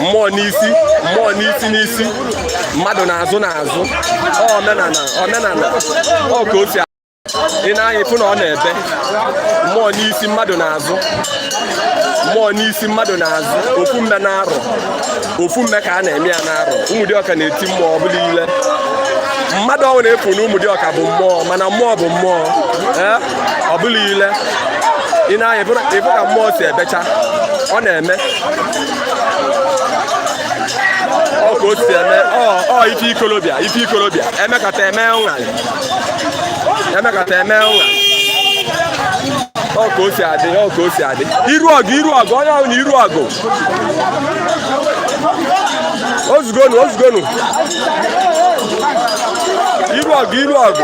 mmụọ n'isi mmụọ n'isi n'isi mmadụ n'azụ n'azụ omenala omenala ọ ka o si ị nee anya ị fụ na ọ na-ebe mmụọ n'isi mmadụ n'azụ mmụọ n'isi mmadụ n'azụ ofu mme n'arọ ofu mme ka a na-eme ya n'arọ Ụmụdiọka na-eti mmụọ ọ bụla ile mmadụ ọnwụ na-efu na Ụmụdiọka bụ mmụọ mana mmụọ bụ mmụọ ọ bụla ile ị nee anya ị fụ ka mmụọ si ebecha ọ na-eme ọ ka o si eme ọ ife ikolobịa ife ikolobịa emekata eme ụṅa emekata eme ụṅa ọ ka o si adị ọ ka o si adị iru ọgụ iru ọgụ onye ahụ na iru ọgụ ozugonu ozugonu iru ọgụ iru ọgụ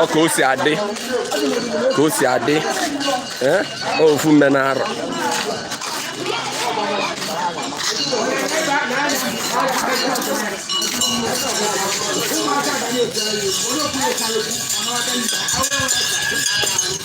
ọ ka o si adị ka o si adị eh? ofu mme n'arọ